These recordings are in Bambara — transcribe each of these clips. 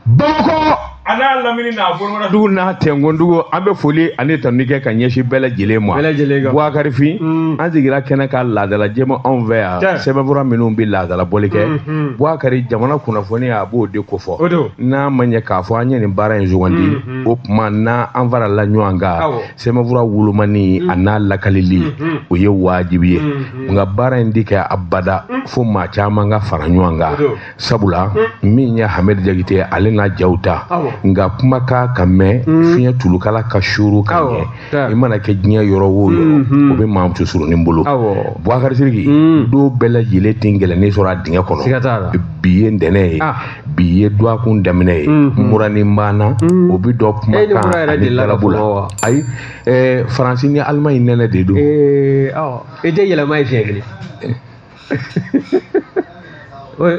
bamakɔ a n'a lamini n'a bolomada dugu n'a tɛnkun dugu an bɛ foli ani tanuni kɛ ka ɲɛsin bɛɛ lajɛlen ma bɛɛ lajɛlen kan buwakarifin mm. an sigira kɛnɛ kan laadala jɛma anw fɛ yan sɛbɛnfura minnu bɛ laadala bɔli kɛ mm, mm. buwakari jamana kunnafoni a b'o de kofɔ n'a ma ɲɛ k'a fɔ an ye nin baara in sugandi o tuma na an farala ɲɔgɔn kan sɛbɛnfura wolomani a n'a lakalili o ye wajibi ye nka baara in di kɛ abada fo maa caman ka fara ɲɔgɔn kan sabula min ye hamɛdi jakite ye ale n'a jaw ta Awɔ. nka kumakan ka mɛn fiɲɛ tulukala ka suru ka Awɔ, ɲɛ taa. i mana kɛ diɲɛ yɔrɔ o yɔrɔ o bɛ maa muso surunin bolo Awɔ. buwakari siriki don bɛɛ lajɛlen tɛ ngɛlɛnni sɔrɔ a dingɛ kɔnɔ Siga t'a la. bi ye ntɛnɛn ye Ah. bi ye duwakun daminɛ ye muranin b'an na o bɛ dɔn kuma Eh, ni mura kan yɛrɛ ani delila ka galabu la fɔ wa? ayi ɛɛ faransi ni alimaɲi nɛnɛ de don Ee, awɔ. I tɛ yɛlɛma ye siɲɛ kelen.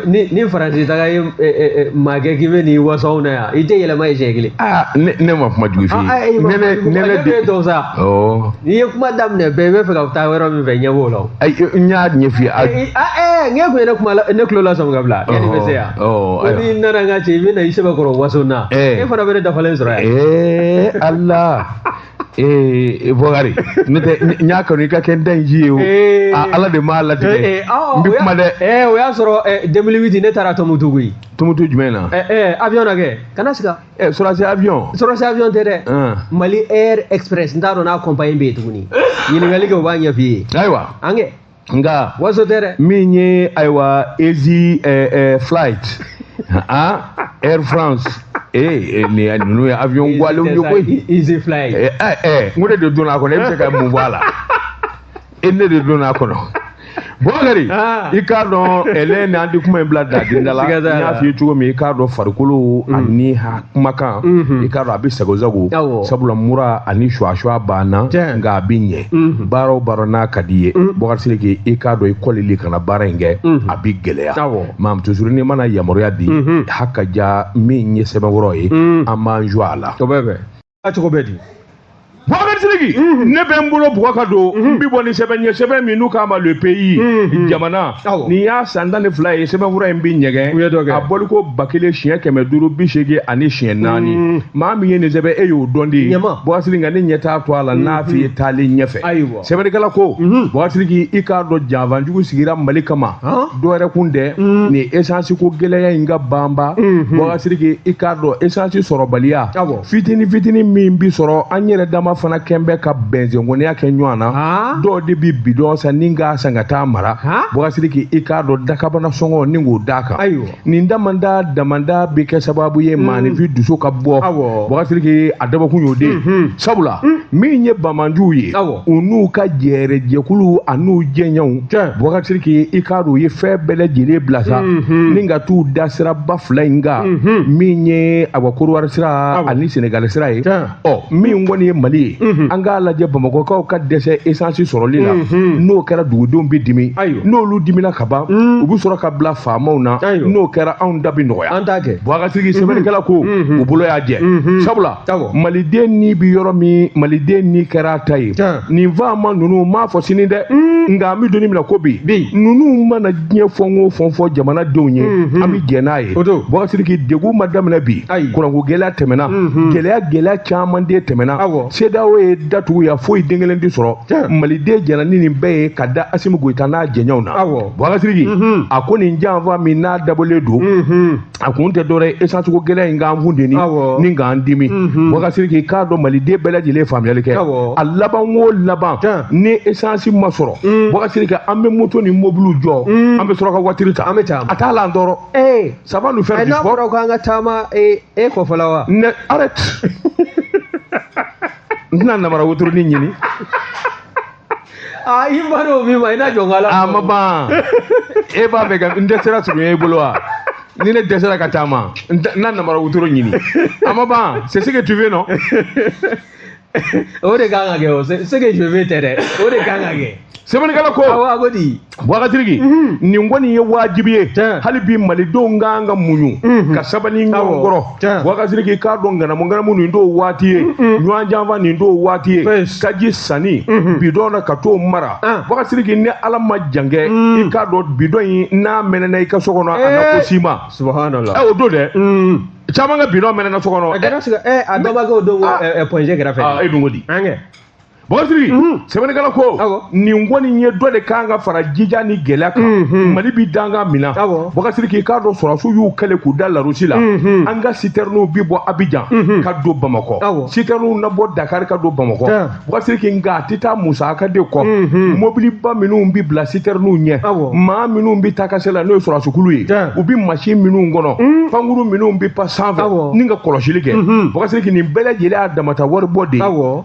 ni ni faransi taga ye makɛ k'i bɛ n'i waso an na yan i tɛ yɛlɛma ye siɲɛ kelen. aa ne ne ma kuma jugu f'i ye. ne ne nɛnɛ de don sa. ɔɔ. n'i ye kuma daminɛ bɛɛ i bɛ fɛ ka taa yɔrɔ min fɛ n ɲɛ b'o la o. ayi n y'a ɲɛf'i ye. a ɛɛ n ye kun ye ne kuma la ne tulo la sɔmi ka bila. yanni i bɛ se yan. ɔɔ ko n'i nana n ka cɛ i bɛ na i sɛbɛkɔrɔ waso na. e fana bɛ ne dafalen sɔrɔ yan. ɛɛ ala. ee buwakari ne tɛ n y'a kanu i ka kɛ n da in ji ye o ee, a ala de m'a latigɛ ee, ee, awɔ, n bɛ o y'a- kuma dɛ ee, o y'a sɔrɔ eh, 2008 ne taara tumutu koyi tumutu jumɛn na Eh, eh, avion na kɛ kana siga ɛ sɔrɔdasi avion sɔrɔdasi avion tɛ dɛ Hum. mali air express n t'a dɔn n'a compagnie bɛ yen tuguni ɲininkali kɛ u b'a ɲɛf'i ye ayiwa an kɛ nka waso tɛ dɛ min ye ayiwa easy eh, eh, flight ah air france ee eh, nin ninnu ye avion gwalenw ye koyi easy flight eh, eh, eh, n ko ne de donna a kɔnɔ e bɛ se ka mun bɔ a la e ne de donna a kɔnɔ buwakari ah. i k'a dɔn ɛlɛ ni an di kuma in bila dadenda la n y'a f'i ye cogo min i k'a dɔn farikolo mm. ani ha kumakan mhm. i k'a dɔn a bɛ sagosago sabula mura ani suwasuwa b'an na nka a bɛ ɲɛ mhm. baara o baara n'a ka d'i ye mhm. buwakari sidiki i k'a dɔn i kɔlili ka na baara in kɛ a bɛ gɛlɛya maa ma toujours n'i mana yamaruya di hakaja min ye sɛbɛnkɔrɔ ye an b'an jɔ a la cogo bɛ di Bubakari Sidiki mhm. ne bɛ n bolo bugɔ ka don mhm. n bɛ bɔ ni sɛbɛn ye sɛbɛn min n'u k'a ma le pays mhm. jamana nin y'a san tan ni fila ye sɛbɛnfura in bɛ ɲɛgɛn a bɔliko ba kelen siɲɛ kɛmɛ duuru bi seegin ani siɲɛ naani maa min ye nin sɛbɛn e y'o dɔn de ye Bubakari Sidiki nka ne ɲɛ t'a to a la n'a f'i ye taalen ɲɛfɛ. sɛbɛnnikɛla ko buwakari sidiki i k'a dɔn janfanjugu sigira mali kama dɔ wɛrɛ kun tɛ nin esansi ko gɛlɛya in ka banba buwakari sidiki i k'a dɔn esansi sɔrɔbaliya fitini fitini min bi sɔrɔ an yɛrɛ dama fana kɛn bɛ ka bɛnzɛnkɔniya kɛ ɲɔgɔn na dɔw de bi bidɔn san ni k'a san ka taa mara buwakari sidiki i k'a dɔn dakabana sɔngɔ ni k'o d'a kan nin damanda damanda bɛ kɛ sababu ye maaninfin dusu ka bɔ Awɔ. Bakasiriki a dabɔkun y'o de ye Mhm. sabula min ye bamanjuw ye Awɔ. u n'u ka jɛɛrɛjɛkulu an'u jɛɲɔgɔnw Tiɲɛ. Bakasiriki i k'a dɔn u ye fɛn bɛɛ lajɛlen bila sa Mhm. ni ka t'u da siraba fila in kan Mhm. min ye awa Kɔdiwari sira Awɔ. ani Senegali sira ye Tiɲɛ. ɔ min kɔni ye mali ye an k'a lajɛ bamakɔkaw ka dɛsɛ esansi sɔrɔli la n'o kɛra dugudenw bɛ dimi n'olu dimina ka ban u bɛ sɔrɔ ka bila faamaw na n'o kɛra anw da bɛ nɔgɔya an t'a kɛ Bakasiriki sɛbɛnnikɛla ko u bolo y'a jɛ sabula maliden ni bɛ yɔrɔ min maliden ni kɛra a ta ye nin faama ninnu n m'a fɔ sini dɛ nka an bɛ don min na ko bi ninnu mana diɲɛ fɛn o fɛn fɔ jamanadenw ye an bɛ jɛn n'a ye Bakasiriki degun ma daminɛ bi kuranko gɛlɛya tɛmɛna gɛlɛya gɛlɛya caman de tɛmɛna CEDEAO ye da tugu yan foyi den kelen tɛ sɔrɔ maliden jɛnna ni nin bɛɛ ye ka da Asimi Goyita n'a jɛɲɔgɔnw na Bakasiriki a ko nin janfa min n'a dabɔlen don a kun tɛ dɔwɛrɛ ye esansuko gɛlɛya in k'an funteni Awɔ. ni k'an dimi Mhm. Bakasiriki k'a dɔn maliden bɛɛ lajɛlen faamuyali kɛ Awɔ. a laban o laban Tiɲɛ. ni esansi ma sɔrɔ Mm. Bakasiriki an bɛ moto ni mobiliw jɔ Mm. an bɛ sɔrɔ ka watiri ta An bɛ taa. a t'a la an tɔɔrɔ ee ça va nous faire du sport n'a fɔra ko an ka taama ee e kɔfɛ la wa ne arrête n tɛna namara wotoroni ɲini a i ba dɔn min ma i n'a jɔ n ka la a ma ban e b'a fɛ ka n dɛsɛra surunya i bolo wa ni ne dɛsɛra ka taama n na namara wotoro ɲini a ma ban c'est ce que tu veux non o de kan ka kɛ o c'est ce que je veux tɛ dɛ o de kan ka kɛ sɛbɛnnikɛla ko awɔ a ko di Bakasiriki nin kɔni ye wajibi ye hali bi malidenw kan ka muɲu ka sabali ɲɔgɔn kɔrɔ Bakasiriki k'a dɔn nganamunganamu nin t'o waati ye ɲɔgɔn janfa nin t'o waati ye taji sanni bidɔn na ka t'o mara Bakasiriki ni ala ma jankɛ i k'a dɔn bidɔn in n'a mɛnɛna i ka so kɔnɔ si ma su o don dɛ caman ka bidɔn mɛnɛna so kɔnɔ a don pɔɔnse kɛrɛfɛ fɛ e di Bakasiriki sɛbɛnnikɛla ko nin kɔni ye dɔ de kan ka fara jija ni gɛlɛya kan mali bɛ dankan min na Bakasiriki k'a dɔn sɔrɔdasiw y'u kalen k'u da Larusi la an ka sitɛrɛniw bɛ bɔ Abijan ka don bamakɔ sitɛrɛniw na bɔ dakari ka don bamakɔ Bakasiriki nka a tɛ taa musaka de kɔ mɔbiliba minnu bɛ bila sitɛrɛniw ɲɛ maa minnu bɛ ta kasɛ la n'o ye sɔrɔdasikulu ye u bɛ mansin minnu kɔnɔ pankurun minnu bɛ pan sanfɛ ni ka kɔlɔsili kɛ Bakasiriki nin bɛɛ lajɛlen a dama ta wari bɔ de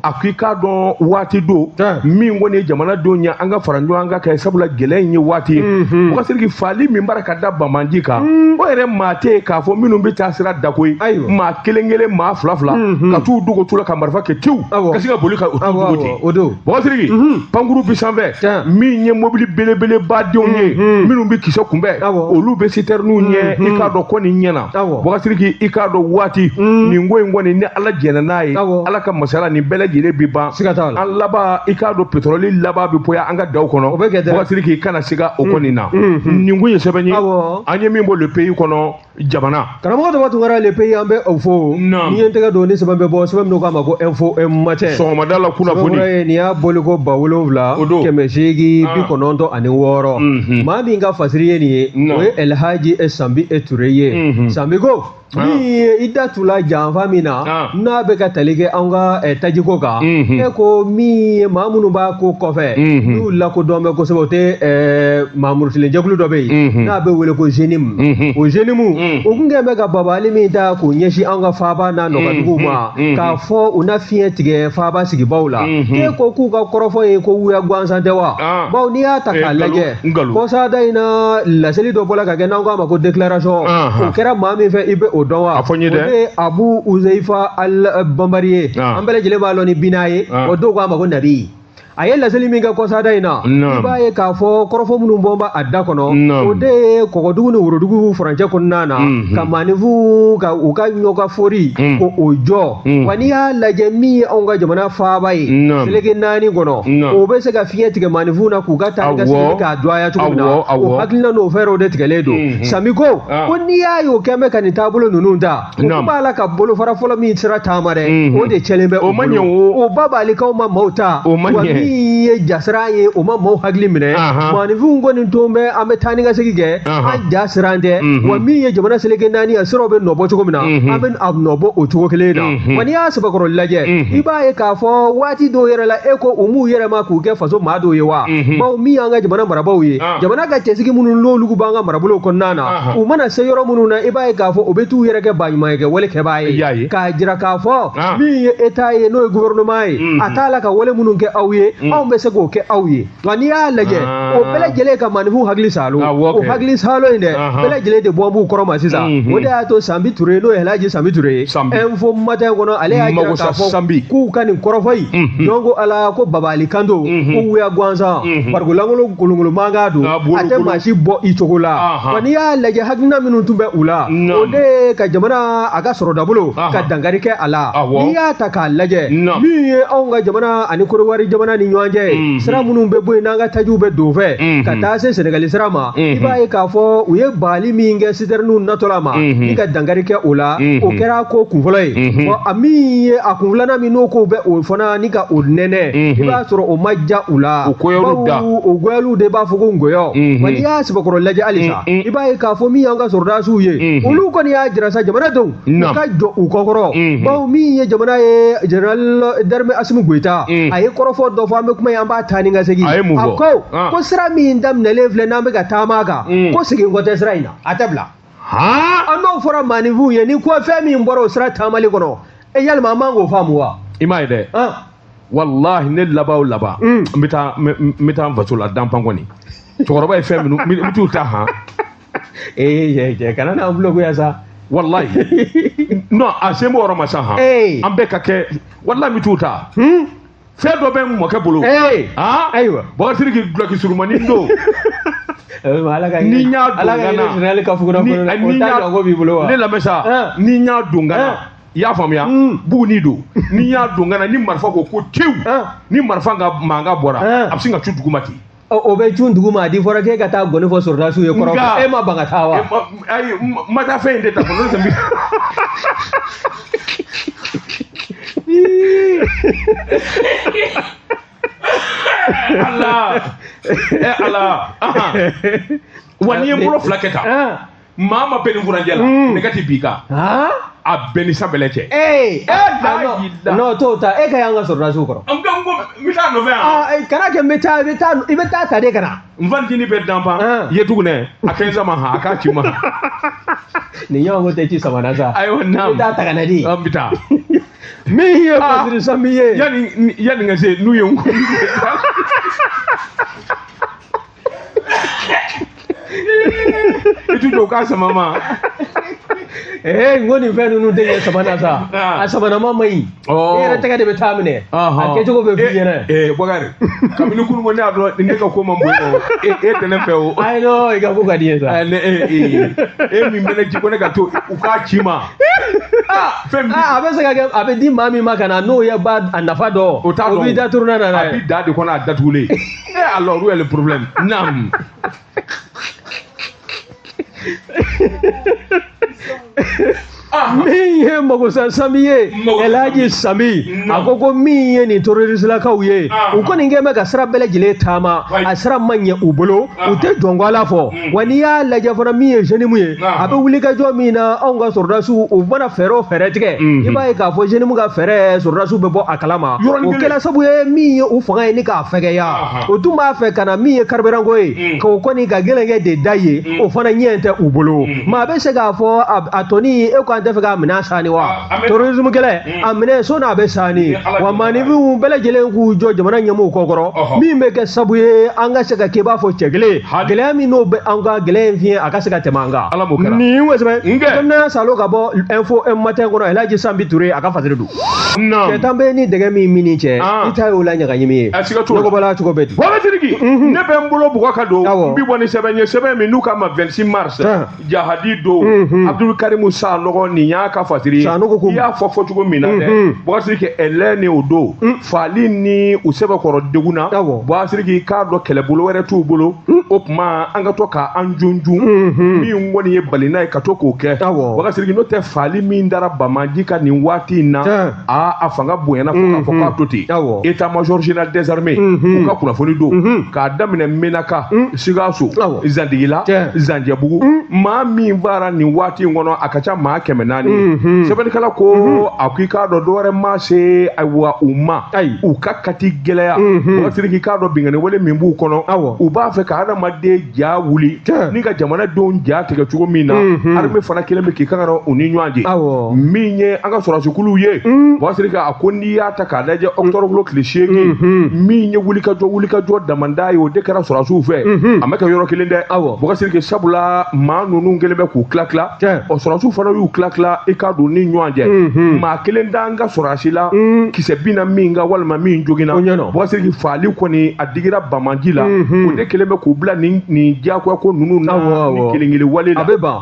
a ko i k'a dɔn waati don min kɔni ye jamanadenw ye an ka fara ɲɔgɔn kan ka kɛ sabula gɛlɛya in ye waati ye mɔgɔsiriki faali min b'a la ka da banbaanci kan o yɛrɛ maa tɛ yen k'a fɔ minnu bɛ taa sira da ko ye maa kelen kelen maa fila fila ka t'u dogo tu la ka marifa kɛ tewu ka se ka boli ka u dogo mɔgɔsiriki pankuru bi sanfɛ min ye mobili belebeleba denw ye minnu bɛ kisɛ kunbɛn olu bɛ sitɛriniw ɲɛ i k'a dɔn ko nin ɲɛna mɔgɔsiriki i k'a dɔn waati nin ko in kɔni ala jɛnna n'a ye ala ka masaya la nin bɛɛ lajɛlen bi ban an laban i k'a dɔn petɔrɔli laban bɛ bɔ yan an ka daw kɔnɔ mɔgɔsiriki i kana siga o kɔni na mm, mm, mm. nin tun ye sɛbɛn ye an ye min bɔ le pays kɔnɔ jamana k'a ma ko tubabukan na le pays an bɛ u fo n'i ye n tɛgɛ don ni sɛbɛn bɛ bɔ sɛbɛn min k'a ma ko info matin sɔgɔmada la kunnafoni nin y'a bɔli ko ba wolonwula kɛmɛ seegin ah. bi kɔnɔntɔn ani wɔɔrɔ mm-hmm. maa min ka fasiri ye nin ye o ye ɛlhaji sanbi e ture ye mm-hmm. sanbi ko ni i da tula janfa min na ah. n'a bɛ ka tali kɛ an ka eh, tajiko kan mhm. e ko min ye maa minnu b'a ko kɔfɛ mhm. n'u lakodɔn bɛ kosɛbɛ o tɛ eh, maa murutilen jɛkulu dɔ bɛ yen mhm. n'a bɛ wele ko jenimu o jenimu o tun kɛlen bɛ ka baabaali min ta k'o ɲɛsin an ka faaba n'a nɔkanduguw ma k'a fɔ u na fiɲɛ tigɛ faaba sigibaw la e ko k'u ka kɔrɔfɔ ye ko wuya gansan tɛ wa ah. bawo n'i y'a ta k'a eh, lajɛ nkalon kɔsada in na laseli dɔ bɔra ka kɛ n'an k'a ma ko déclaration o kɛra maa min fɛ i bɛ o dɔn wa a fɔ n ye dɛ o de ye abu uzeyifa al eh, banbari ye an bɛɛ lajɛlen b'a lɔn ni bina ye o dɔw k'a ma ko nabi a ye laseli min kɛ kɔsada in na i b'a ye k'a fɔ kɔrɔfɔ minnu bɔn b'a a da kɔnɔ o de ye kɔgɔdugu ni worodugu furancɛ kɔnɔna na mhm. ka maaninfinw ka u ka ɲɔgɔn fori mhm. ko o jɔ Mm. wa n'i y'a lajɛ min ye anw ka jamana faaba ye Naam. seleke naani kɔnɔ Naam. o bɛ se ka fiɲɛ tigɛ maanifinw na k'u ka taa ka Awɔ. segin k'a dɔgɔya cogo min Awɔ, na awɔ. o hakilina n'o fɛɛrɛw de tigɛlen don Mhm. sanbi ko Ah. ko n'i y'a ye o kɛn bɛ ka nin taabolo ninnu ta o Naam. ko b'a la ka bolofara fɔlɔ min sira taama dɛ Mhm. o de cɛnnen bɛ O ma bolo. ɲɛ o- o baabaalikanw ma maaw ta O ma wa ɲɛ. min ye jasiran ye o ma maaw hakili minɛ Ahan. maanifinw kɔni ton bɛ an bɛ taa ni ka segin kɛ an ja siran tɛ wa min ye jamana seleke naani ye a siraw bɛ nɔbɔ cogo min na an bɛ a nɔbɔ o cogo kelen na wa n'i y'a sɛbɛkɔrɔ lajɛ i b'a ye k'a fɔ waati dɔw yɛrɛ la e ko u m'u yɛlɛma k'u kɛ faso maa dɔw ye wa bawo min y'an ka jamana marabaaw ye jamana ka cɛsigi minnu n'olu b'an ka marabolow kɔnɔna na u mana se yɔrɔ minnu na i b'a ye k'a fɔ u bɛ t'u yɛrɛ kɛ baɲumankɛ wale kɛbaa ye k'a jira k'a fɔ min ye état ye n'o ye gouvernement ye a t'a la ka wale minnu kɛ aw ye anw bɛ se k'o kɛ aw ye nka n'i y'a lajɛ o bɛɛ lajɛlen ka maaninfinw hakili saalo o hakili saalo in dɛ bɛɛ lajɛlen de bɔ b'u kɔrɔ ma sisan o de y'a to sanbi ture n'o ye halaji sanbi ture ye info matin kɔnɔ ale y'a jira k'a fɔ k'u ka nin kɔrɔfɔ in jɔn ko ala ko bagabagali kan don ko wuya gansan barikon lankolon kolonkolon mankan don a tɛ maa si bɔ i cogo la wa n'i y'a lajɛ hakilina minnu tun bɛ u la o de ye ka jamana a ka sɔrɔ dabolo ka dankari kɛ a la n'i y'a ta k'a lajɛ min ye anw ka jamana ani korowari jamana ni ɲɔgɔn cɛ mm-hmm. sira minnu bɛ bɔ yen n'an ka tajiw bɛ don fɛ mm-hmm. ka taa se sɛnɛgali sira ma i mm-hmm. b'a ye k'a fɔ u ye bali min kɛ sitɛriniw natɔla ma ni ka dankari kɛ o la o kɛra ko kun fɔlɔ ye bɔn a min ye a kun filanan min n'o ko bɛ o fana ni ka o nɛnɛ i b'a sɔrɔ o ma ja u la bawo o goyaliw de b'a fɔ ko ngɔyɔ wa n'i y'a sɛbɛkɔrɔ lajɛ halisa i b'a ye k'a fɔ min y'an ka sɔrɔdasiw ye olu kɔni y'a jira sa jamana denw u ka jɔ u kɔkɔrɔ bawo min ye jamana ye général d'armée asimi goyita a ye kɔrɔfɔ dɔ fɔ an bɛ kuma ye an b'a taa ni ka segin a ko ko sira min daminɛlen filɛ n'an bɛ ka taama kan ko segin kɔ tɛ sira in na a tɛ bila an n'o fɔra maaninfinw ye ni ko fɛn min bɔra o sira taamali kɔnɔ e yalima an man k'o faamu wa i m'a ye dɛ walahi ne laban o laban n bɛ taa n bɛ taa n faso la danpan kɔni cɛkɔrɔba ye fɛn minnu n bɛ t'u ta han ee cɛ kana n'an bulogoya sa walayi non a sen b'o yɔrɔ ma sa han an bɛɛ ka kɛ walayi n bɛ t'u ta hmm? fɛn dɔ bɛ n mɔkɛ bolo ah? ayiwa bakari k'i dulɔki surumani don ni n y'a don ka na ni n y'a don ne lamɛn sa eh. ni n y'a don ka na eh. i y'a faamuya hmm. buguni don ni n y'a don ka na ni marifa ko ko tewu eh. ni marifa ka mankan bɔra a bɛ sin ka cun duguma ten o bɛ cun duguma a di fɔra k'e ka taa ngɔni fɔ sɔrɔdasiw ye kɔrɔ e ma ban ka taa wa ayi ma taa fɛn in de ta fɔlɔ tɛ ala ala wa n'i ye bolo fila kɛ tan maa ma bɛn ni furancɛ la mm. ne ka ti bi kan a bɛn ni san bɛlɛ cɛ. ee ee n'o t'o ta e ka y'an ka sɔrɔdasiw kɔrɔ. n ko n ko n bɛ taa nɔfɛ yan. kana kɛ n bɛ taa i bɛ taa i bɛ taa ta de ka na. n fantini bɛ danpan ye tugunɛ a kɛ n sama ha a k'a ci ma. nin ɲɔgɔn ko tɛ ci sama na sa. ayiwa naamu i bɛ taa ta ka na di. an bɛ taa. min ye masiri san min ye. yanni yanni ka se n'u ye n ko. i ti jɔ k'a sama ma ee n ko nin fɛn ninnu tɛ ɲɛ sama na sa Ah. a samanama man ɲi Ɔɔ. e yɛrɛ tɛgɛ de bɛ taa minɛ a Ɔhɔn. kɛcogo bɛ f'i ɲɛna ee bakari kabini kunu ko ne y'a dɔn ne ka ko man bon o e e tɛ ne fɛ o ayi nɔ i ka ko ka di ye sa Ɛ, ne e e e min bɛ ne ci ko ne ka to u k'a ci ma aa fɛn min Ah, a bɛ se ka kɛ a bɛ di maa min ma ka na n'o ye ba a nafa dɔn O t'a dɔn. o b'i da turunɛ na n'a a ye bi da de kɔnɔ a datugulen Eh, alors, où est le problème Naam. Ah. min ye magosa sanbi ye elaji sanbi a ko ko min ye nin terroristlakaw ye ah. u kɔni kɛlen bɛ ka sira bɛɛ lajɛlen taama a sira ma ɲɛ u bolo u ah. tɛ jɔnko ala fɔ wa n'i y'a lajɛ fana min ye JNIM ye a bɛ wulikajɔ min na anw ka sɔrɔdasiw u mana fɛɛrɛ o fɛɛrɛ tigɛ i b'a ye k'a fɔ JNIM ka fɛɛrɛ sɔrɔdasiw bɛ bɔ a kalama o kɛla sabu ye min ye u fanga ye ni k'a fɛgɛya o tun b'a fɛ ka na min ye karibiranko ye k'o kɔni ka gɛlɛnkɛ de da ye o fana ɲɛ tɛ u bolo maa bɛ se k'a fɔ a tɔni e ko an tɛ fɛ k'a minɛ sani wa terrorisme kɛlɛ a minɛ so n'a bɛ sa ni wa maaninfinw bɛɛ lajɛlen k'u jɔ jamana ɲɛmɔgɔw kɔkɔrɔ min bɛ kɛ sabu ye an ka se ka kɛ i b'a fɔ cɛ kelen gɛlɛya min n'o bɛ an ka gɛlɛya in fiɲɛ a ka se ka tɛmɛ an kan ala m'o kɛra nin wɛsɛ kɛnɛya salo ka bɔ info matin kɔnɔ elaji sanbi ture a ka fasiri don cɛ tan bɛ ni dɛgɛ min mini cɛ i ta y'o la ɲagaɲimi ye nɔgɔbɔla cogo bɛ di ne bɛ n bolo bugɔ ka don n bi bɔ ni sɛbɛn ye sɛbɛn min n'u k'a ma 26 mars jahadi don mhm. abdulkarimu sanɔgɔ nin y'a ka fasiri ye i y'a fɔ fɔ cogo min na dɛ mhm. bɔkasiriki ɛlɛ ni o don mm. faali ni u sɛbɛkɔrɔ degunna bɔkasiriki k'a dɔn kɛlɛbolo wɛrɛ t'u bolo mm. o tuma an ka to ka an junjun mhm. min kɔni ye balina ye ka to k'o kɛ bɔkasiriki n'o tɛ faali min dara banbaanci kan nin waati in na a a fanga bonyana fo k'a fɔ k'a to ten état major général des armées u ka kunnafoni don k'a daminɛ menaka mm. sikaso zantigila zanjɛbugu mm. maa min faara nin waati in kɔnɔ a ka ca maa kɛmɛ naani mm-hmm. sɛbɛnnikɛla ko mm-hmm. a ko i k'a dɔn dɔwɛrɛ ma se ayiwa u ma u ka kati gɛlɛya mm-hmm. bɔkasiriki k'a dɔn binkanni wale min b'u kɔnɔ u b'a fɛ ka adamaden ja wuli ni ka jamana denw ja tigɛ cogo min na arme fana kɛlen bɛ k'i kan ka u ni ɲɔgɔn cɛ min ye an ka sɔrɔdasikuluw ye bɔkasiriki mm. a ko i y'a ta k'a lajɛ octobre kalo tile seegin min ye wulikajɔ wulikajɔ damanda ye o de kɛra sɔrɔdasiw fɛ a ma kɛ yɔrɔ kelen dɛ awɔ bɔkasiriki sabula maa ninnu kɛlen bɛ k'u tila tila Tiɲɛ. ɔ sɔrɔdasiw fana y'u tila tila i k'a dɔn ni ɲɔgɔn cɛ maa kelen t'an ka sɔrɔdasi la kisɛ binna min kan walima min joginna O ɲɛna. bɔkasiriki faali kɔni a digira banbaanci la o de kɛlen bɛ k'u bila nin nin diyagoya ko ninnu na Awɔ, awɔ. nin kelen kelen wale la a bɛ ban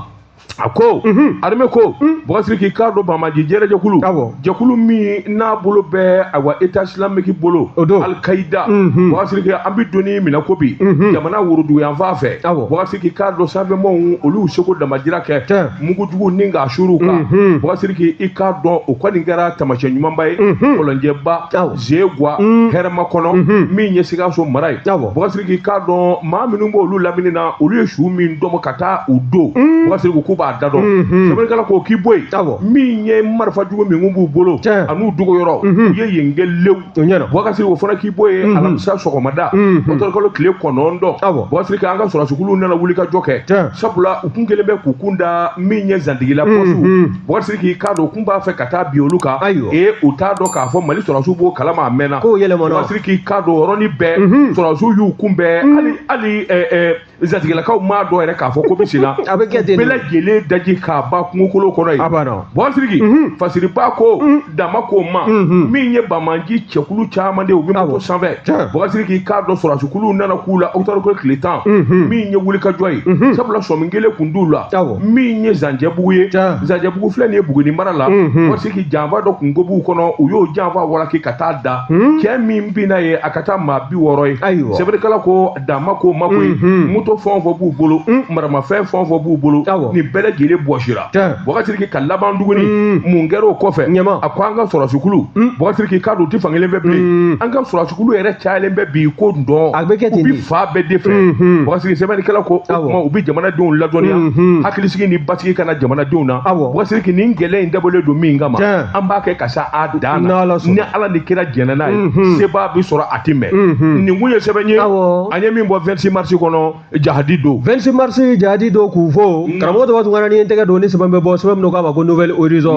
a ko armée ko bɔkasiriki k'a dɔn banbaanci jɛrɛjɛkulu Awɔ. jɛkulu min n'a bolo bɛ ayiwa état islamique bolo O don. alkaida Mhm. bɔkasiriki an bɛ don min na ko bi Mhm. jamana woroduguyanfan fɛ Awɔ. bɔkasiriki k'a dɔn sanfɛmɔɔw olu y'u seko damajira kɛ Tiɲɛ. mugujugu ni k'a suuru u kan Mhm. bɔkasiriki i k'a dɔn o kɔni kɛra taamasiyɛn ɲumanba ye Mhm. kɔlɔnjɛba Awɔ. zegwa mm. hɛrɛmakɔnɔ mhm. min ye sikaso mara ye bɔgasiriki k'a dɔn maa minnu b'olu lamini na olu ye su min tɔmɔ ka taa u don mm. bɔgasiriki k'u b'a da dɔn mhm. sɛbɛnnikɛla k'o k'i bɔ yen min ye marifa jugu min b'u bolo an'u dogoyɔrɔ mhm. u ye yen kɛ lew bɔgasiriki o fana k'i bɔ yen alamisa sɔgɔmada ɔkutɔburukalo tile kɔnɔntɔn bɔgasiriki an ka sɔrɔsikulu nana wulikajɔ kɛ sabula u kun kɛlen bɛ k'u kun da min ye zantigila pɔsiw bɔgasiriki k'a dɔn u kun b'a fɛ ka taa bin olu kan ee u t'a dɔn k'a fɔ mali sɔrɔsiw b'o kalama a mɛnna bɔgasiriki k'a dɔn yɔrɔnin bɛɛ mhm. sɔrɔsiw y'u kunbɛn mhm. hali zantigilakaw m'a dɔn yɛrɛ k'a fɔ ko bɛ sen na bɛɛ lajɛlen daji k'a ban kungokolo kɔnɔ yen bɔgasiriki mhm. fasiribaa ko dan ma k'o ma min ye banbaanci cɛkulu caman de u bɛ moto sanfɛ bɔgasiriki k'a dɔn sɔrɔsikulu nana k'u la ɔkutɔburu tile tan min ye wulikajɔ ye sabula sɔmi kɛlen kun d'u la min ye zanjɛbugu ye zanjɛbugu filɛ nin ye buguni mara la bɔgasiriki janfa dɔ kun ko b'u kɔnɔ u y'o janfa walaki ka taa da cɛ min binna yen a ka ca maa bi wɔɔrɔ ye sɛbɛnnikɛla ko dan ma k'o maako ye moto fɛn o fɛn b'u bolo maramafɛn fɛn o fɛn b'u bolo nin bɛɛ lajɛlen bɔsira bɔgasiriki ka laban tuguni mun kɛra o kɔfɛ a ko an ka sɔrɔsikulu bɔgasiriki k'a dɔn u tɛ fan kelen fɛ bi an ka sɔrɔsikulu yɛrɛ cayalen bɛ bi k'o dɔn u bi fan bɛɛ de fɛ bɔgasiriki sɛbɛnnikɛla ko u bɛ jamanadenw ladɔnniya hakilisigi ni basigi ka na jamanadenw na bɔgasiriki nin gɛlɛya in dabɔlen don min kama an b'a kɛ ka se a dan na ni ala ni kira jɛnna n'a ye seba bɛ sɔrɔ a tɛ mɛɛn nin kun ye sɛbɛn ye an ye min bɔ 26 mars kɔnɔ jahadi don 26 mars jahadi don k'u fo mm. karamɔgɔ tɔ b'a to n ka na ni n tɛgɛ don ni sɛbɛn bɛ bɔ sɛbɛn min k'a ma ko nouvelle horizon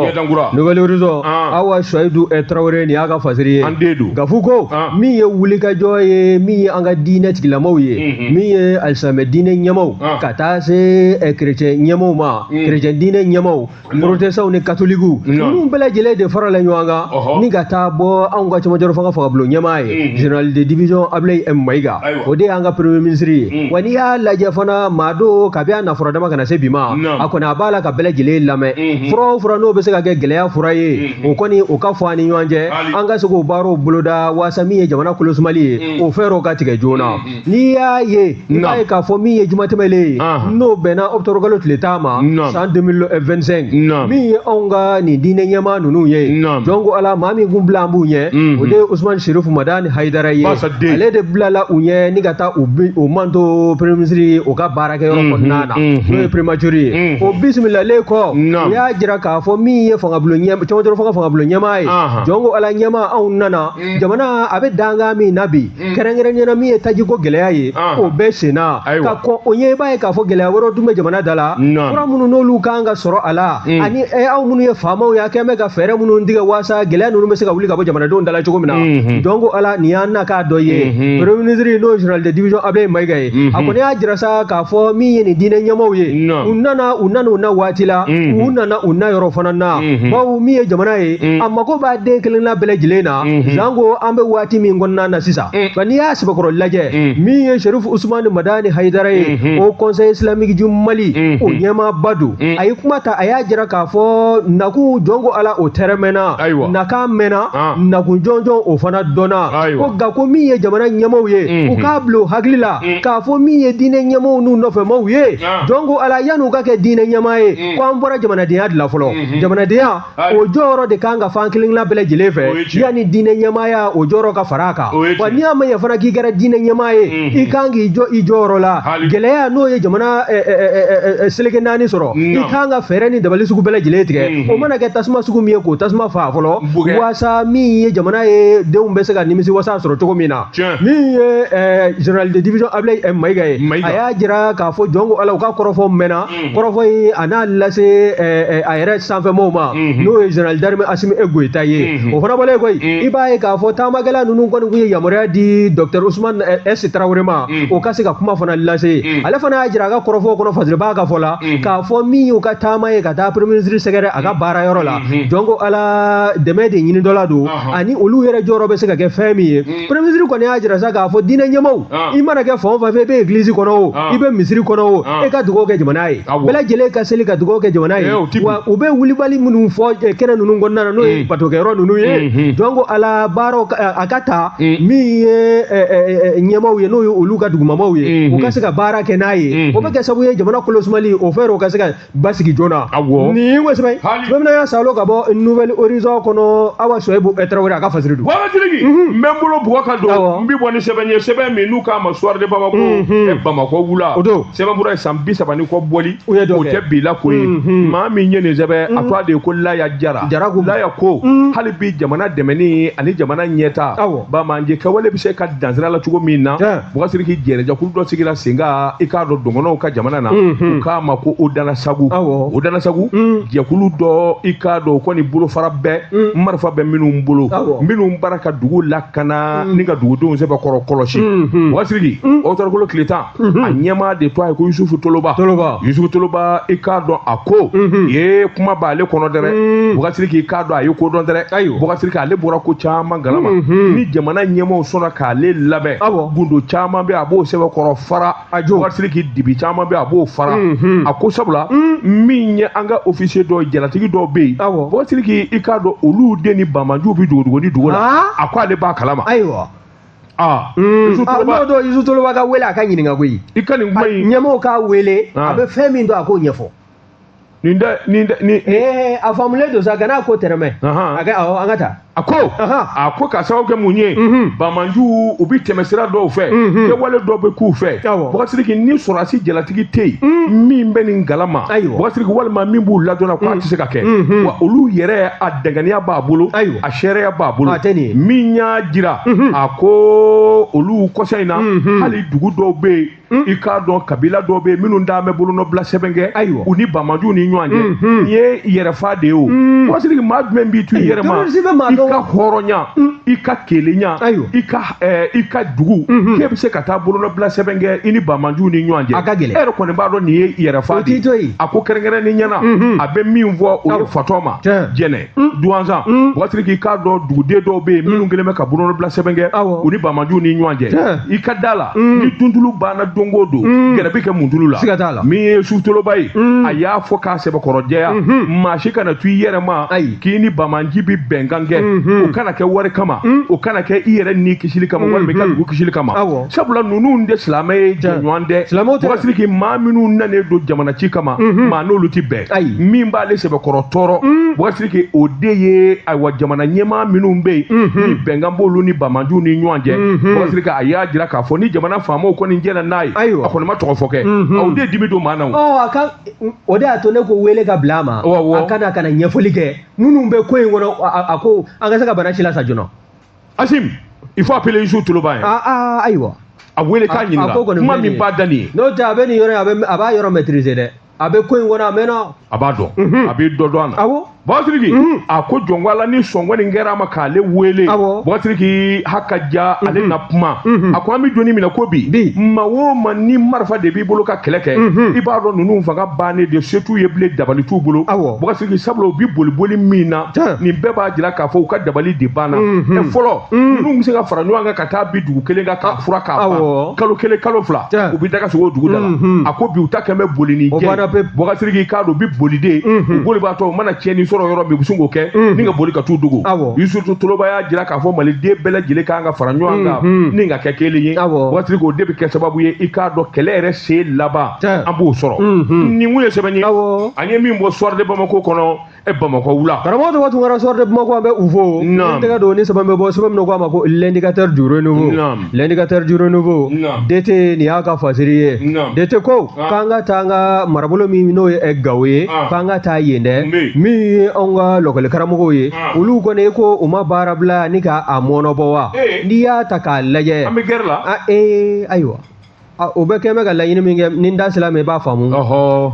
nouvelle horizon ah. awa suwayidu eh, tarawele nin y'a ka fasiri ye an den don gafu ko ah. min ye wulikajɔ ye min ye an ka diinɛ tigilamaw ye mm-hmm. min ye alisamɛ diinɛ ɲɛmaw ah. ka taa se kerecɛn eh, ɲɛmaw ma kerecɛn mm. diinɛ ɲɛmaw porotɛsitanw ni katolikiw ninnu bɛɛ lajɛlen de farala ɲɔgɔn kan ni ka taa bɔ anw ka cɛmancɛrɔ fanga fangabulon ɲɛmaa ye général de division abulayi m mayiga o de y'an ka premier ministre ye wa n'i y'a lajɛ fana maa don kabi a nafɔrɔ dama ka na se bi ma a kɔni a b'a la ka bɛɛ lajɛlen lamɛn fura o fura n'o bɛ se ka kɛ gɛlɛya fura ye o kɔni o ka fɔ an ni ɲɔgɔn cɛ an ka se k'o baaraw boloda waasa min ye jamana kolosumali ye o fɛɛrɛw ka tigɛ joona n'i y'a ye i b'a ye k'a fɔ min ye juma tɛmɛlen ye n'o bɛnna ɔkutɔburukalo tile tan ma san 2025 min ye anw ka nin diinɛ ɲɛmaa ninnu ye jɔn ko ala maa min kun bilalen b'u ɲɛ o de ye usumani serifu madani hayidara ye ale de bilala u ɲɛ ni ka taa u manto premier ministre ye o ka baarakɛyɔrɔ kɔnɔna na n'o ye primature ye o bisimilalen kɔ u y'a jira k'a fɔ min ye fangabulon ɲɛ cɛmancɛrɔ fanga fangabulon ɲɛmaa ye jɔn ko ala ɲɛmaa anw nana jamana a bɛ dankan min na bi kɛrɛnkɛrɛnnenya la min ye tajiko gɛlɛya ye o bɛ senna ka kɔn o ɲɛ i b'a ye k'a fɔ gɛlɛya wɛrɛw tun bɛ jamana da la fura minnu n'olu kan ka sɔrɔ a la mm. ani aw minnu ye faamaw ye a kɛn bɛ ka fɛɛrɛ minnu tigɛ waasa gɛlɛya ninnu bɛ se ka wuli ka bɔ jamanadenw da la cogo min na mm-hmm. jɔn ko ala nin y'an nakun dɔ ye mm-hmm. premier ministre n'o ye general de division ablaye mayiga ye a mm-hmm. kɔni y'a jira sa k'a fɔ min ye nin diinɛ ɲɛmaaw ye u nana u nana u na waati la u nana u na yɔrɔ fana na bawo min ye jamana ye a mago b'a den kelenna bɛɛ lajɛlen na Mhm. sanko an bɛ waati min kɔnɔna na sisan mm. nka n'i y'a sɛbɛkɔrɔ lajɛ mm. min ye sherif usman madani hayidara ye mm-hmm. haut conseil islamique du mali mm-hmm. o ɲɛmaaba don mm. a ye kuma ta a y'a jira k'a fɔ nakun jɔn ko ala o tɛrɛmɛna nakan mɛnna ah. nakun jɔnjɔn o fana dɔnna ko nka ko min ye jamana ɲɛmaaw ye mm-hmm. u k'a bila u hakili la k'a fɔ min ye diinɛ ɲɛmaaw n'u nɔfɛmaw ye ah. jɔn ko ala yan'u ka kɛ diinɛ ɲɛmaa ye ko an bɔra jamanadenya de la fɔlɔ jamanadenya o jɔyɔrɔ de kan ka f'an kelenna bɛɛ lajɛlen fɛ yanni diinɛ ɲɛmaaya o jɔyɔrɔ ka fara a kan wa n'i y'a mɛn fana k'i kɛra diinɛ ɲɛmaa ye mhm. i kan k'i jɔ i jɔyɔrɔ la gɛlɛya n'o ye jamana seleke naani sɔrɔ i kan ka fɛɛrɛ ni dabali sugu bɛɛ lajɛlen tigɛ mhm. o mana kɛ tasuma sugu min ye k'o tasuma faa fɔlɔ waasa min ye jamana ye denw bɛ se ka nimisi wasa sɔrɔ cogo min na min ye general de division Abilayi Mayiga ye a y'a jira k'a fɔ jɔn ko Ala u ka kɔrɔfɔ mɛnna Mm-hmm. kɔrɔfɔ in a n'a lase eh, eh, a yɛrɛ sanfɛmaaw ma mm-hmm. n'o ye general d'armée asimi goyita ye mm-hmm. o fana bɔlen kɔ yen i b'a ye k'a fɔ taamakɛla ninnu kɔni kun ye yamaruya di docteur usman eh, s tarawele ma o ka se ka kuma fana lase ale fana y'a jira a ka kɔrɔfɔw kɔnɔ fasiribaa ka fɔ la k'a fɔ min y'u ka taama ye ka taa premier ministre sɛgɛrɛ a ka baara yɔrɔ la jɔn ko ala dɛmɛ de ɲini dɔ la don uh-huh. ani olu yɛrɛ jɔyɔrɔ bɛ se ka kɛ fɛn min ye premier ministre kɔni y'a jira sa k'a fɔ diinɛ ɲɛmaaw ah. i mana kɛ fan o fan fɛ i bɛ église kɔnɔ o ah. i bɛ misiri kɔnɔ o ah. i ka dugawu kɛ jamana ye bɛɛ lajɛlen ka seli ka dugawu kɛ jamana ye eh, wa u bɛ wulibali minnu fɔ eh, kɛnɛ ninnu kɔnɔna na n'o ye batokɛyɔrɔ ninnu ye jɔn ko ala baaraw a ka ta min ye ɲɛmaaw ye n'o ye olu ka dugumamaw ye u ka se ka baara kɛ n'a ye o bɛ kɛ sababu ye jamana kolosumali o fɛɛrɛw ka se ka basigi joona awɔ nin ye ko sɛbɛ ye Hali. tuma min na y'a salo ka bɔ nouvel horizon kɔnɔ awa suwayibu tarawele a ka fasiri don waatitigi n bɛ n bolo bugɔ ka don Awɔ. n bɛ bɔ ni sɛbɛn ye sɛbɛn min n'u k'a ma soir de bamako Mhm. ɛ, bamakɔ wula O don. sɛbɛnfura in san bi saba ni kɔ bɔli U ye dɔ kɛ. o tɛ bi la ko ye Mhm. maa min ye nin sɛbɛn a tɔgɔ de ye ko laya jara Jara ko. laya ko Mhm. hali bi jamana dɛmɛni ani jamana ɲɛta Awɔ. banbaanci kɛwale bɛ se ka dan sira la cogo min na Tiɲɛ. Bukasiriki jɛnɛjɛkulu dɔ sigira sen kan i k'a dɔn dɔgɔnɔw ka jamana na u k'a ma ko o dana sagu dana sagu jɛkulu dɔ i k'a dɔn o kɔni bolofara bɛɛ marifa bɛ minnu bolo minnu baara ka dugu lakana ni ka dugudenw sɛbɛkɔrɔ kɔlɔsi bukasiriki ɔkutɔburukalo tile tan a ɲɛmaa de tɔgɔ ye ko yusufu toloba yusufu toloba i k'a dɔn a ko ye kuma b' ale kɔnɔ dɛrɛ bukasiriki i k'a dɔn a ye ko dɔn dɛrɛ bukasiriki ale bɔra ko caman kalama ni jamana ɲɛmaaw sɔnna k'ale lamɛn gundo caman bɛ a b'o sɛbɛkɔrɔ fara awɔ bukasiriki dibi caman bɛ a b'o fara a ko sabula min ye an ka ofisiye dɔ jalatigi dɔw bɛ yen bukasiriki i k'a dɔn olu de ni banbaanciw bɛ dogodogonin dugu la a ko ale b'a kalama ayiwa aa n'o don isu toloba ka wele a ka ɲininka koyi i ka nin kuma in ɲɛmaaw k'a wele a bɛ fɛn min dɔn a k'o ɲɛfɔ nin da nin da ni eh a faamulen don sa gana ko tɛmɛ a kan awɔ an ka taa a ko a ko k'a sababu kɛ mun ye mhm. banbaanciw bi tɛmɛ sira dɔw fɛ mhm. kɛwale dɔw bɛ k'u fɛ bukasiriki ni sɔrɔdasi jalatigi tɛ yen mhm. min bɛ nin kalama bukasiriki walima min b'u ladɔnna ko a tɛ se ka kɛ wa olu yɛrɛ a dankɛnɛya b'a bolo a seereya b'a bolo min y'a jira a ko olu kɔsa in na hali dugu dɔw bɛ yen Mm. i k'a dɔn kabila dɔw bɛ minnu d'a bɛ bolonɔbila sɛbɛn kɛ ayiwa u ni banbaanciw ni ɲɔgɔn cɛ mm-hmm. nin ye yɛrɛfa de ye o mm. bukasiriki maa jumɛn b'i tu i yɛrɛ ma i ka hɔrɔnya mm. i ka kelenya i ka eh, i ka dugu mm-hmm. k'e bɛ se ka taa bolonɔbila sɛbɛn kɛ i ni banbaanciw ni ɲɔgɔn cɛ a ka gɛlɛn e yɛrɛ kɔni b'a dɔn nin ye yɛrɛfa de ye a ko kɛrɛnkɛrɛnnenya na mm-hmm. a bɛ min fɔ o ye fatɔma jɛnɛ duwanzan bukasiriki i k'a dɔn duguden dɔw bɛ yen minnu kɛlen bɛ ka bolonɔbila sɛbɛn kɛ Awɔ. u ni banbaanciw ni ɲɔgɔn cɛ Tiɲɛ. i ka da la ni duntulu banna don o don gɛrɛ bɛ kɛ muntulu la Siga t'a la. min ye isu toloba ye a y'a fɔ k'a sɛbɛkɔrɔjɛya maa si kana to i yɛrɛ ma Ayi. k'i ni banbaanci bɛ bɛnkan kɛ o kana kɛ wari kama o kana kɛ i yɛrɛ ni kisili kama walima i ka dugu kisili kama Awɔ. sabula ninnu tɛ silamɛ ye jɛɲɔgɔn dɛ Silamɛw tɛ. bukasiriki maa minnu nanen don jamana ci kama maa n'olu tɛ bɛn ayi min b'ale sɛbɛkɔrɔ tɔɔrɔ bukasiriki o de ye ayiwa jamana ɲɛmaa minnu bɛ yen ni bɛnkan b'olu ni banbaanciw ni ɲɔgɔn cɛ bukasiriki a y'a jira k'a fɔ ni jamana faamaw kɔni jɛnna n'a ye Ayiwa. a kɔni ma tɔgɔ fɔ kɛ o de dimi don maa na o. ɔ a ka o de y'a to ne ko wele ka bila a ma Awɔ, awɔ. a ka na ka na ɲɛfɔli kɛ minnu bɛ ko in kɔnɔ a- a a ko an ka se ka banbaanci lasa joona asimi il faut appeler isu toloba yan aa aa, ayiwa a wele k'a A- a ko ɲininka kɔni kuma filɛ nin min ye. b'a da nin ye n'o tɛ a bɛ nin yɔrɔ in a bɛ a b'a yɔrɔ maîtriser dɛ a bɛ ko in kɔnɔ a mɛnna a b'a dɔn a bɛ dɔ dɔn a na awɔ Bukasiriki a ko jɔnwala ni sɔngɔn in kɛra a ma k'ale wele Awɔ. Bukasiriki ha ka ja ale na kuma a ko an bɛ don min na ko bi Bi. maa o maa ni marifa de b'i bolo ka kɛlɛ kɛ i b'a dɔn ninnu fanga bannen de se t'u ye bilen dabali t'u bolo Awɔ. Bukasiriki sabula u bi boli boli min na Tiɲɛ. nin bɛɛ b'a jira k'a fɔ u ka dabali de banna Ɛ, fɔlɔ ninnu bɛ se ka fara ɲɔgɔn kan ka ka taa bi dugu kelen ka taa furan k'a ban kalo kelen kalo fila u bɛ daga sigi dugu da la mhm. a ko bi u ta kɛn bɛ boli ni jɛ bɔgasiriki i k'a dɔn u bɛ boli dɛ mhm. u bolibatɔ u mana tiɲɛni sɔrɔ yɔrɔ min u bɛ sin k'o kɛ mhm. ni ka boli ka t'u dogo yusufu toloba y'a jira k'a fɔ maliden bɛɛ lajɛlen kan ka fara ɲɔgɔn kan ni ka kɛ kelen ye bɔgasiriki o de bɛ kɛ sababu ye i k'a dɔn kɛlɛ yɛrɛ se laban an b'o sɔrɔ nin kun ye sɛbɛn ye an ye min bɔ soir de bamako kɔnɔ e bamakɔ wula karamɔgɔ tɔgɔ tun kɛra soir de bamako an bɛ u fo n tɛgɛ don ni sɛbɛn bɛ bɔ sɛbɛn min ko a ma ko l'indicateur du renouveau l'indicateur du renouveau DT nin y'a ka fasiri ye DT ko ah. k'an ka taa an ka marabolo min n'o ye gawo ye ah. k'an ka taa yen dɛ min ye anw ka lɔkɔli karamɔgɔw ye ah. olu kɔni ko u ma baara bila ni ka a mɔɔnɔbɔ wa eh. n'i y'a ta k'a lajɛ an bɛ gɛrɛ la ee ayiwa o bɛɛ kɛn bɛ ka laɲini min kɛ ni n da sera a ma i b'a faamu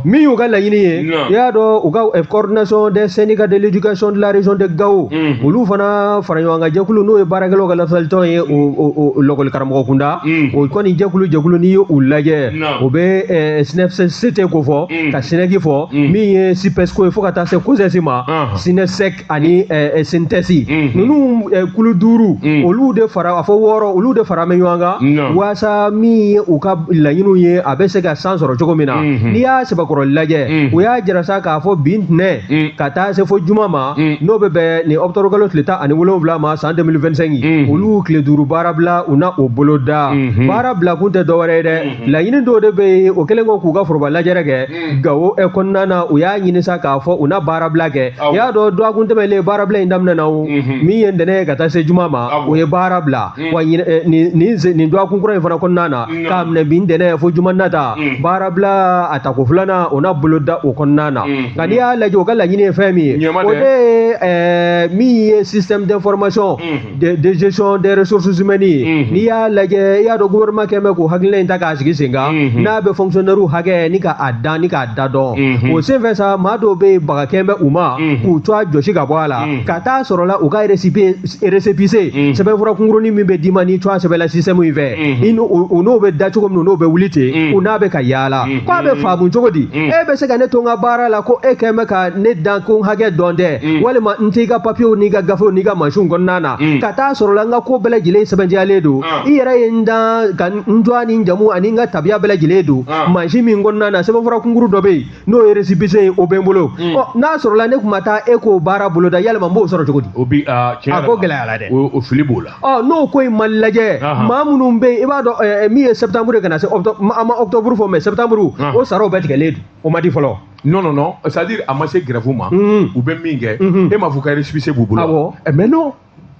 min y'u ka laɲini ye i y'a dɔn u ka eh, coordination des syndicats de l'éducation de la région de Gao mhm. olu fana fara ɲɔgɔn kan jɛkulu n'o ye baarakɛlaw ka lafasalitɔn ye o lɔkɔli karamɔgɔ kunda mhm. o kɔni jɛkulu jɛkulu n'i ye u lajɛ o bɛ eh, SYNEFCT k'o fɔ mhm. ka SNEC fɔ min ye SYPESCO ye fo ka taa se COSES ma SYNESEC ani SYNTES ninnu kulu duuru olu de fara a fɔ wɔɔrɔ olu de fara bɛ ɲɔgɔn kan waasa min ye u ka laɲiniw ye a bɛ se ka san sɔrɔ cogo min na n'i y'a sɛbɛkɔrɔ lajɛ u y'a jira sa k'a fɔ bi ntɛnɛn ka taa se fo juma ma n'o bɛ bɛn nin ɔkutɔburu kalo tile tan ani wolonwula ma san 2025 olu tile duuru baarabila u na o boloda baarabila kun tɛ dɔwɛrɛ ye dɛ laɲini dɔw de bɛ yen o kɛlen ko k'u ka foroba lajɛrɛ kɛ hmm. gawo ɛ kɔnɔna na u y'a ɲini sa k'a fɔ u na baarabila kɛ i y'a dɔn dɔgɔkun tɛmɛlen baarabila in daminɛna o mhm. min ye ntɛnɛn ye ka taa se juma ma o ye baarabila hmm. wa nin dɔgɔkun kura in fana kɔnɔna na k'a minɛ bi ntɛnɛn fo juma nata hmm. baarabila a tako filanan o na boloda o kɔnɔna na nka n'i y'a lajɛ o ka laɲini ye fɛn min ye o de ye min ye système d'information de de gestion des ressources humaines ye Mhm. n'i y'a lajɛ i y'a dɔn gouvernement kɛn bɛ k'o hakilina in ta k'a sigi sen kan Mhm. n'a bɛ fonctionnaire hakɛ ni ka a dan ni k'a da dɔn Mhm. o senfɛ sa maa dɔw bɛ yen baga kɛn bɛ u ma Mhm. k'u tɔgɔ jɔsi ka bɔ a la Mhm. ka taa sɔrɔla u ka récépissé récépissé Mhm. sɛbɛnfura kunkurunin min bɛ d'i ma n'i tɔgɔ sɛbɛnna système in fɛ Mhm. i n'o o- o n'o bɛ da cogo min na o n'o bɛ wuli ten Mhm. u n'a bɛ ka yaala Mhm. k'a bɛ faamu cogo di Mhm. e bɛ se ka ne to n ka baara la ko e kɛn bɛ ka ne dan ko n hakɛ dɔn dɛ mm. walima n t'i ka papiyew n'i ka gafew n'i ka mansinw kɔnɔna na mm. ka taa sɔrɔla n ka ko bɛɛ lajɛlen sɛbɛntiyalen don ah. i yɛrɛ ye n dan ka n tɔgɔ ni n jamu ani n ka tabiya bɛɛ lajɛlen don ah. mansin min kɔnɔna na sɛbɛnfura kunkuru dɔ bɛ yen n'o ye resipise ye o bɛ n bolo mm. ɔ n'a sɔrɔla ne tun ma taa e k'o baara boloda yalima n b'o sɔrɔ cogo di o bi ah, a ko gɛlɛyara dɛ o fili b'o la ɔ n'o ko in ma lajɛ maa minnu bɛ yen i b'a dɔn eh, eh, min ye sɛbɛtanburu ye ka na se a ma ɔkutɔburu fɔ mɛ sɛbɛtanburu o saraw bɛɛ tigɛlen don o ma di fɔlɔ non non non c'est à dire a ma se grève ma mm-hmm. u bɛ min kɛ mm-hmm. e m'a fɔ ka récépissé b'u bolo awɔ eh, mais non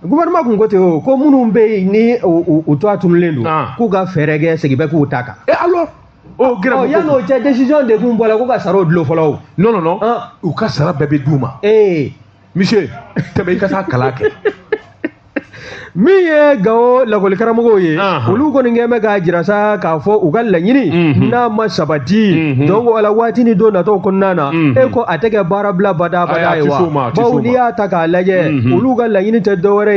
gouvernement kun ko ten o ko minnu bɛ yen ni u tɔgɔ tununen don ah. k'u ka fɛɛrɛ kɛ segin bɛ k'u ta kan e alors o oh, grève oh, yanni o cɛ décision de kun bɔra ko ka saraw dulon fɔlɔ o non non non ah. u ka sara bɛɛ bɛ d'u ma ee eh. monsieur tɛmɛ i ka taa kalan kɛ min ye gawo lakɔlikaramɔgɔw ye olu kɔni kɛlen bɛ k'a jira sa k'a fɔ u ka laɲini n'a ma sabati donc o la waati ni don natɔw kɔnɔna na e ko a tɛ kɛ baarabila badabada ye wa bawo n'i y'a ta k'a lajɛ olu ka laɲini tɛ dɔwɛrɛ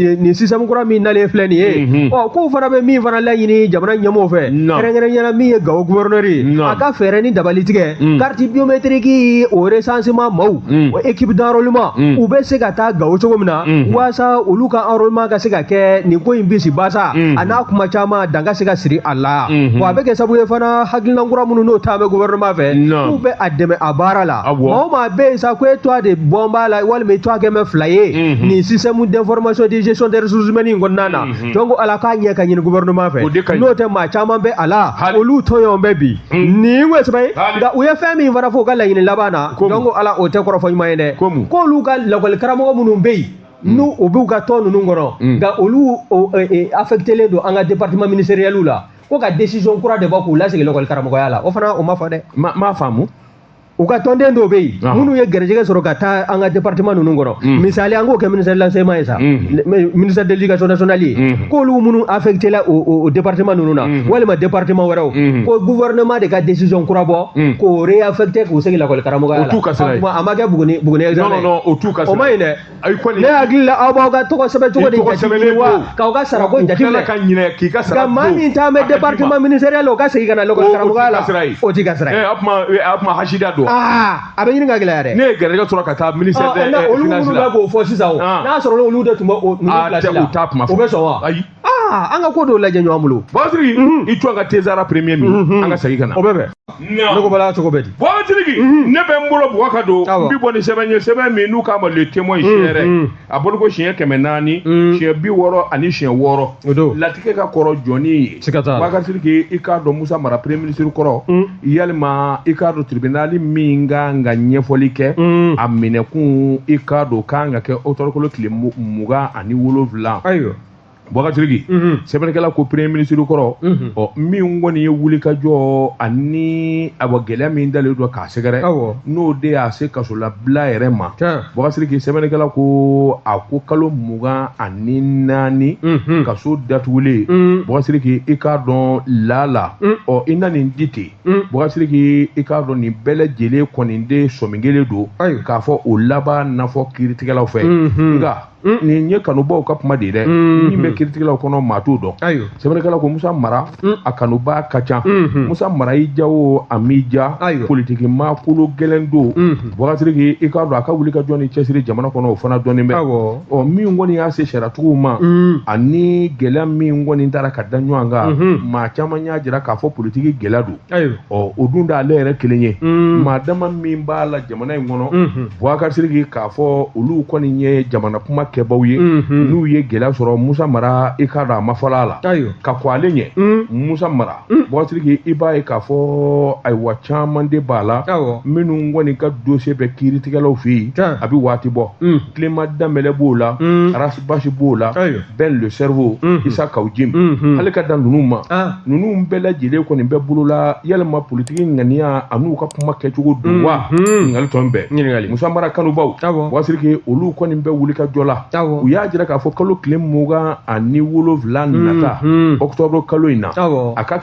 ye nin système kura min nalen filɛ nin ye ɔ k'u fana bɛ min fana laɲini jamana ɲɛmɔgɔw fɛ kɛrɛnkɛrɛnya la min ye gawo gouverneur ye a ka fɛɛrɛ ni dabali tigɛ carte biométrique o recensement maaw o équipe d'enrôlement u bɛ se ka taa gawo cogo min na walasa olu ka enrôlement ka se ka kɛ nin ko in bisi basa a n'a kuma caman dan ka se ka siri a la wa a bɛ kɛ sabu ye fana hakilina kura minnu n'o ta bɛ gouvernement fɛ k'u bɛ a dɛmɛ a baara la maa o maa bɛ yen sa ko e tɔgɔ de bɔlen b'a la walima e tɔgɔ kɛlen bɛ fila ye nin système d'information de gestion des ressources humaines in kɔnɔna na donc ala k'a ɲɛ ka ɲini gouvernement fɛ n'o tɛ maa caman bɛ a la olu tɔɲɔnen bɛ bi nin ye sɛbɛ ye nka u ye fɛn min fana fɔ u ka laɲini laban na donc ala o tɛ kɔrɔfɔ ɲuman ye dɛ k'olu ka lakɔli karamɔgɔ minnu bɛ yen Mm. n'u u b'u ka tɔn ninnu kɔnɔ mm. nka olu e, e, affectelen don an ka département ministériel la ko ka décision kura de bɔ k'u lasegin lakɔli karamɔgɔya la o fana o ma fɔ dɛ n m'a faamu u ka tɔnden dɔw bɛ yen Ɔhɔn. minnu ye garijɛgɛ sɔrɔ ka taa an ka département ninnu kɔnɔ Mm. misali an k'o kɛ ministère de l'enseignement ye sa Mhm. le- ministère de l'éducation nationale ye Mhm. k'olu minnu affecté la o, o, o département ninnu na Mhm. walima département wɛrɛw Mhm. ko gouvernement de ka décision kura bɔ Mhm. k'u réaffecté k'u segin lakɔli karamɔgɔya O la t'u ka sira ye. a, kuma- a ma kɛ buguni buguni examen non non ye. non o t'u ka o sira ma ye. ɲi dɛ ayi kɔni ne hakili la aw b'aw ka tɔgɔ sɛbɛn cogo de jate wa k'aw ka sarako jateminɛ ka ɲinɛ k'i ka sara nka maa min taa bɛ département ministériel o ka segin ka na lakɔli karamɔgɔya la o t'i ka sira ye a kuma a kuma hasida don aa a bɛ ɲini ka gɛlɛya dɛ ne ye garijɛgɛ sɔrɔ ka taa ministère des finances la olu minnu bɛ k'o fɔ sisan o n'a sɔrɔ olu de tun bɛ o ninnu place la u t'a kuma fɔ o bɛ sɔn wa ayi aa an ka ko dɔw lajɛ ɲɔgɔn bolo bubakar siriki i to an ka te sara premier min an ka segin ka na o bɛ bɛn ne ko bala cogo bɛ di bubakar siriki ne bɛ n bolo bugɔ ka don n bɛ bɔ ni sɛbɛn ye sɛbɛn min n'u k'a ma le témoin siyɛrɛ a bolo ko siɲɛ kɛmɛ naani siɲɛ bi wɔɔrɔ ani siɲɛ wɔɔrɔ latigɛ ka kɔrɔ jɔni ye siga t'a la bubakar siriki i k'a dɔn musa mara premier ministre kɔrɔ yɛlɛma i k'a dɔn tribunal min ka kan ka ɲɛfɔli kɛ a minɛkun i k'a dɔn ka kan ka kɛ octobre kalo tile mugan ani wolonwula ayiwa Bukasiriki sɛbɛnnikɛla ko premier ministre kɔrɔ ɔ min kɔni ye wuli ka jɔ ani ayiwa gɛlɛya min dalen don k'a sɛgɛrɛ n'o de y'a se kasolabila yɛrɛ ma bukasiriki sɛbɛnnikɛla ko a ko kalo mugan ani naani kaso datugulen bukasiriki i k'a dɔn lala ɔ i na nin di ten bukasiriki i k'a dɔn nin bɛɛ lajɛlen kɔni de sɔmi kɛlen don k'a fɔ o laban na fɔ kiiritigɛlaw fɛ nka Mm. nin ye kanubaw ka kuma de ye dɛ mm-hmm. min bɛ kiiritigɛlaw kɔnɔ maa t'o dɔn sɛbɛnnikɛla ko musa mara mm. a kanubaa ka ca mm-hmm. musa mara i ja o a m'i ja politiki maa kolo gɛlɛn don mm-hmm. buwakasiriki i k'a dɔn a ka wuli ka jɔ ni cɛsiri jamana kɔnɔ o fana dɔnnen bɛ ɔ min kɔni y'a se sariyatigiw ma mm. ani gɛlɛya min kɔni taara ka da ɲɔgɔn kan maa caman y'a jira k'a fɔ politiki gɛlɛya don ɔ o dun t'ale yɛrɛ kelen ye mm. maa dama min b'a la jamana in kɔnɔ mm-hmm. buwakasiriki k'a fɔ olu kɔni ye jamana kuma kɛbaw ye mm-hmm. n'u ye gɛlɛya sɔrɔ musa mara i k'a dɔn a ma fɔlɔ a la ka kɔn ale ɲɛ mm. musa mara mm. buwakasiriki i b'a ye k'a fɔ ayiwa caman de b'a la minnu kɔni ka dossier bɛ kiiritigɛlaw fɛ yen a bɛ waati bɔ Clément Danbɛlɛ b'o la Ras Bath b'o la Ben le Cerveau isa kaw jim hali ka dan ninnu ma ninnu bɛɛ lajɛlen kɔni bɛ bolo la yalima politiki ŋaniya an'u ka kuma kɛcogo don wa ɲininkali tɔn bɛɛ musa mara kanubaw buwakasiriki olu kɔni bɛ wuli ka jɔ la u y'a jira k'a fɔ kalo tile mugan ani wolonwula nata ɔkutɔburu kalo in na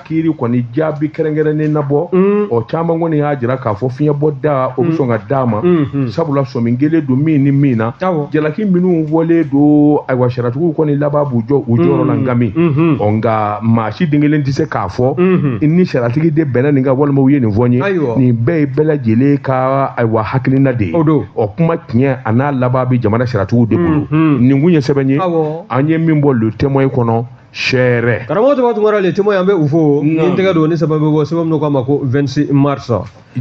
kiiri kɔni jaabi kɛrɛnkɛrɛnnen na bɔ mm. ɔ caman kɔni y'a jira k'a fɔ fiɲɛbɔda o bɛ mm. sɔn ka d'a ma mm-hmm. sabula sɔmi kɛlen don min ni min na jalaki minnu fɔlen don ayiwa sariyatigiw kɔni laban b'u jɔ u jɔyɔrɔ la mm. nkami mm-hmm. ɔ nka maa si den kelen tɛ se k'a fɔ mm-hmm. ni sariyatigi de bɛnna nin kan walima u ye nin fɔ n ye nin bɛɛ ye bɛɛ lajɛlen ka ayiwa hakilina de ye ɔ kuma tiɲɛ an'a laban bɛ jamana sariyatigiw de bolo nin tun ye sɛbɛn ye an ye min bɔ le témoin kɔnɔ seere karamɔgɔ tɔgɔ tunkara le témoin an bɛ u fo ni tɛgɛ don ni sɛbɛn bɛ bɔ sɛbɛn min k'a ma ko 26 mars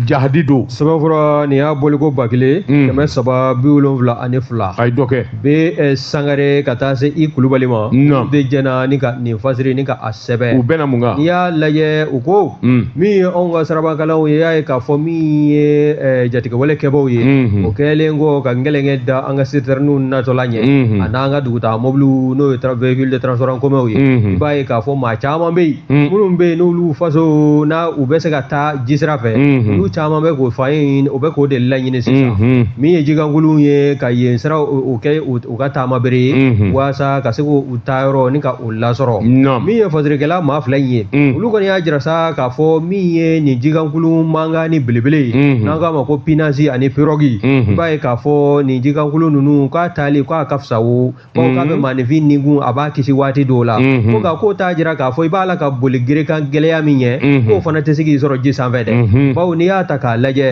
jahadi don sɛbɛnfura nin y'a bɔliko ba kelen hmm. kɛmɛ saba bi wolonwula ani fila a ye dɔ kɛ bɛ eh, sangare ka taa se i kulubali ma de jɛnna ni ka nin fasiri ni ka a sɛbɛn u bɛna mun kan n'i y'a lajɛ u ko Mm. min ye anw ka sirabakalanw ye y'a ye k'a fɔ min ye eh, jatigɛwale kɛbaaw ye mm-hmm. o kɛlen kɔ ka ngɛlɛnkɛ da an ka sitɛriniw natɔ la ɲɛ mm-hmm. an'an ka dugutaa mobiliw n'o ye véhicule de transport en commun ye mm-hmm. i b'a ye k'a fɔ maa caman bɛ yen mm. minnu bɛ yen n'olu faso n'a u bɛ se ka taa jisira fɛ olu caman bɛ k'o fa in o bɛ k'o de laɲini sisan min ye jikankurunw ye ka jisira o kɛ u ka taamabere ye waasa ka se k'u taayɔrɔ ni ka lasɔrɔ min ye fasirikɛla maa fila in ye mm. olu kɔni y'a jira sa k'a fɔ min ye nin jikankulu mankan ni belebele ye mm-hmm. n'an k'a ma ko pinasi ani pirɔgi mm-hmm. i b'a ye k'a fɔ nin jikankulu ninnu k'a taali k'a ka fisa wo bawo k'a bɛ mm-hmm. maaninfin nikun a b'a kisi waati dɔw la ko nka k'o t'a jira k'a fɔ i b'a la ka boli gerekan gɛlɛya min ɲɛ k'o fana tɛ se k'i sɔrɔ ji sanfɛ dɛ bawo n'i y'a ta k'a lajɛ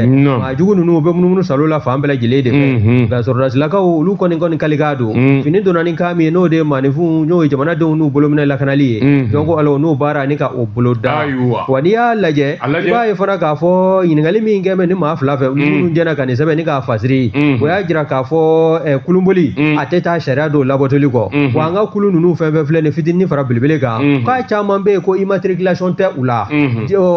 a jugu ninnu u bɛ munumunu salo la fan bɛɛ lajɛlen de fɛ mhm. nka sɔrɔdasilakaw olu kɔni kɔni kalikan don mhm. fini donna ni kan min ye n'o de ye maaninfinw n'o ye jamanadenw n'u bolominɛ lakanali ye mhm. donc alors n'o baara ni ka o bolo da wa n'i y'a lajɛ i b'a ye fana k'a fɔ ɲininkali min kɛ bɛ nin maa fila fɛ minnu jɛna ka nin sɛbɛn ni k'a fasiri o y'a jira k'a fɔ eh, kulunboli a tɛ taa sariya dɔw labatoli kɔ wa an ka kulu ninnu fɛn fɛn filɛ nin fitinin fara belebele kan k'a caman bɛ yen ko immatriculation tɛ u la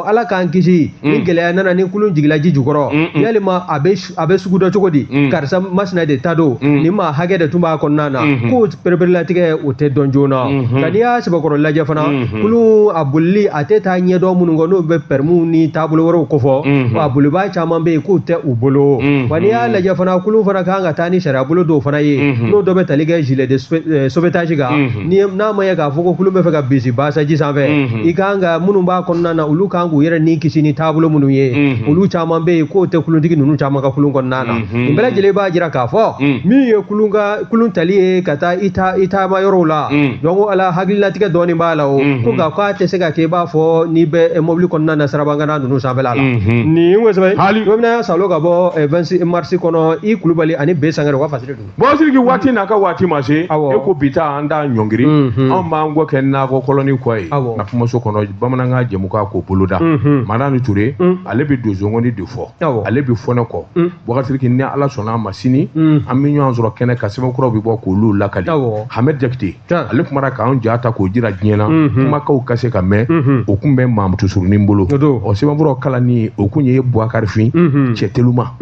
ala k'an kisi Mm. ni gɛlɛya nana ni kulu jigila ji jukɔrɔ mm, mm. yalima a bɛ se ka dɔn cogo di karisa masina de ta don ni maa hakɛ de tun b'a kɔnɔna na mm-hmm. ko pereperelatigɛ o tɛ dɔn joona nka mm-hmm. n'i y'a sɛbɛkɔrɔ lajɛ fana mm-hmm. kulu a bolili a tɛ taa ɲɛdɔn minnu kɔ n'o bɛ pɛrɛmuw ni taabolo wɛrɛw kofɔ wa a bolibaa caman bɛ yen k'u tɛ u bolo wa n'i y'a lajɛ fana kulu fana kan ka taa ni sariyabolo dɔw fana ye n'o dɔ bɛ tali kɛ gilet de eh, sauvetage kan Hmm. Ni n'a ma ye k'a fɔ ko kulu bɛ fɛ ka bisibasa ji sanfɛ hmm. i kan ka minnu b'a kɔnɔna na olu kan k'u yɛrɛ ni kisi ni taabolo minnu ye hmm. olu caman bɛ yen k'o tɛ kulutigi ninnu caman ka kulun kɔnɔna na nin bɛɛ lajɛlen b'a jira k'a fɔ min ye kulun ka kulun tali ye ka taa i ta i taama yɔrɔw la donc alors hakililatigɛ dɔɔni b'a la o ko nka k'a tɛ se ka kɛ i b'a fɔ n'i bɛ eh, mobili kɔnɔna na sirabangana ninnu sanfɛla la nin ye sɛbɛn hali bɛna salo ka bɔ 26 eh, mars kɔnɔ i kulubali ani b sangare u ka fasiri don buwa siriki waati n'a ka waati ma se e ko bi ta an t'a ɲɔngiri mhm. anw b'an kɔ kɛ nakɔ kɔlɔni kɔ ye na kumaso kɔnɔ bamanankan jɛmukan k'o boloda mhm. madani ture mhm. ale bɛ donsongoni de fɔ ale bɛ fɔ ne kɔ buwa siriki ni ala sɔnn'a ma sini an bɛ ɲɔgɔn sɔrɔ kɛnɛ kan sɛbɛn kuraw bɛ bɔ k'olu lakali hamɛd jakite ale kumara k'an ja ta k'o jira diɲɛ na kumakaw ka se ka mɛn o kun bɛ maamutu surunin bolo ɔ sɛbɛn kuraw kalanni o kun ye buwakarifin cɛ telima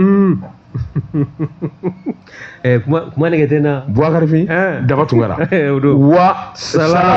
kuma nɛgɛ tɛ n na buwakarifin daba tunkara wa sala